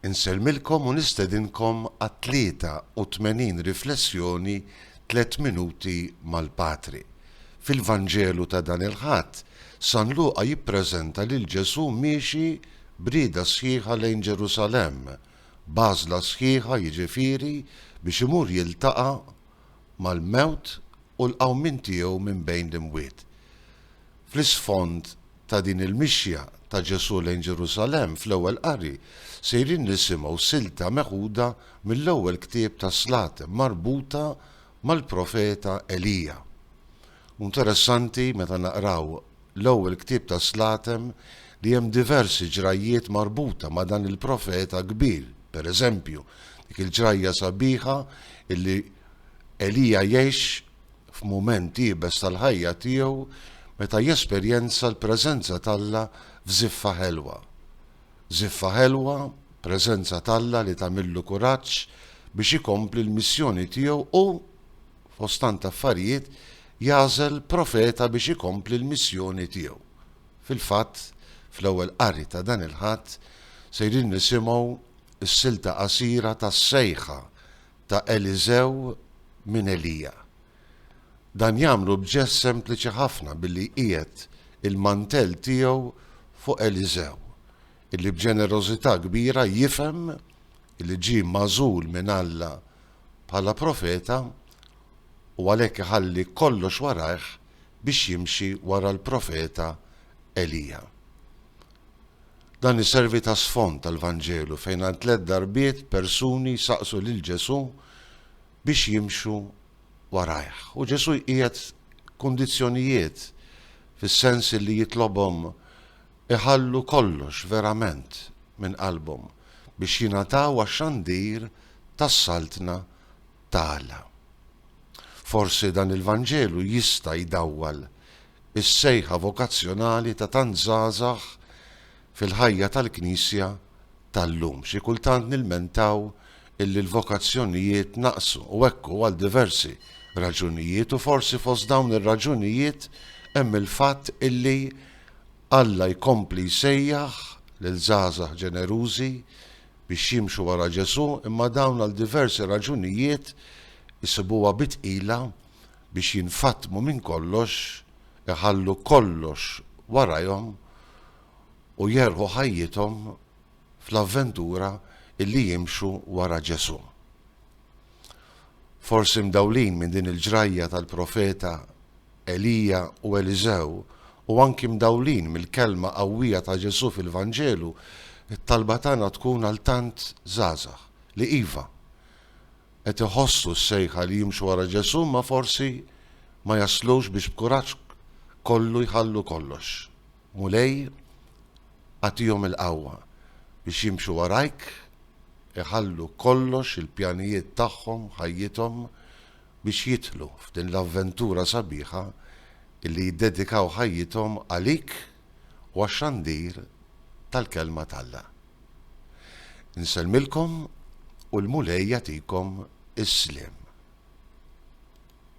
Insellmilkom u nistedinkom għat-83 riflessjoni Tliet Minuti mal-Patri. Fil-Vanġelu ta' dan il-Ħadd, San Luqa jippreżenta lil Ġesù miexi b'rieda sħiħa lejn Ġerusalemm, b'għażla sħiħa jiġifieri biex imur jiltaqa' mal-mewt u l-qawmien tiegħu minn bejn l-imwiet. Fl-isfond ta' din il-mixja ta' Ġesù lejn Ġerusalemm, fl-ewwel qari sejrin nisimgħu silta meħuda mill-ewwel ktieb tas-Slaten marbuta mal-profeta Elija. Hu interessanti meta naqraw l-ewwel ktieb tas-Slaten li hemm diversi ġrajjiet marbuta ma' dan il-profeta kbir, pereżempju, dik il-ġrajja sabiħa li Elija jgħix f'mument iebes tal-ħajja tiegħu meta jesperjenza l-preżenza t'Alla f'żiffa ħelwa. Żiffa ħelwa, preżenza t'Alla li tagħmillu kuraġġ biex ikompli l-missjoni tiegħu u, fost tant affarijiet, jagħżel profeta biex ikompli l-missjoni tiegħu. Fil-fatt, fl-ewwel qari ta' dan il-Ħadd, sejrin nisimgħu s-silta qasira tas-sejħa ta' Eliżew minn Elija. Dan jagħmlu b'ġest sempliċi ħafna billi jqiegħed il-mantell tiegħu fuq Eliżew, illi b'ġenerożità kbira jifhem illi ġie magħżul minn Alla bħala profeta u għalhekk iħalli kollox warajh biex jimxi wara l-profeta Elija. Dan iservi ta' sfond għall-Vanġelu fejn għal tliet darbiet persuni jsaqsu lil Ġesù biex jimxu warajh. U Ġesù jqiegħed kundizzjonijiet fis-sens li jitlobhom iħallu kollox verament minn qalbhom biex jingħataw għax-xandir tas-Saltna ta' Alla. Forsi dan il-Vanġelu jista' jdawwal is-sejħa vokazzjonali ta' tant żgħażagħ fil-ħajja tal-Knisja tal-lum. Xi kultant nilmentaw illi l-vokazzjonijiet naqsu u hekk hu għal diversi raġunijiet u forsi fost dawn ir-raġunijiet hemm il-fatt illi Alla jkompli jsejjaħ lil żgħażagħ ġenerużi biex jimxu wara Ġesù imma dawn għal diversi raġunijiet isibuha bi tqila biex jinfatmu minn kollox, iħallu kollox warajhom u jerħu ħajjithom fl-avventura illi jimxu wara Ġesù. Forsi mdawlin minn din il-ġrajja tal-profeta Elija u Eliżew u anki mdawlin mill-kelma qawwija ta' Ġesù fil-Vanġelu, it-talba tagħna tkun għal tant żgħażagħ li iva, qed iħossu s-sejħa li jimxu wara Ġesù imma forsi ma jaslux biex b'kuraġġ kollu jħallu kollox. Mulej, agħtihom il-qawwa biex jimxu warajk, iħallu kollox, il-pjanijiet tagħhom, ħajjithom, biex jidħlu f'din l-avventura sabiħa li jiddedikaw ħajjithom għalik u għax-xandir tal-Kelma t'Alla. Nsellmilkom u l-Mulej jagħtikom is-sliem.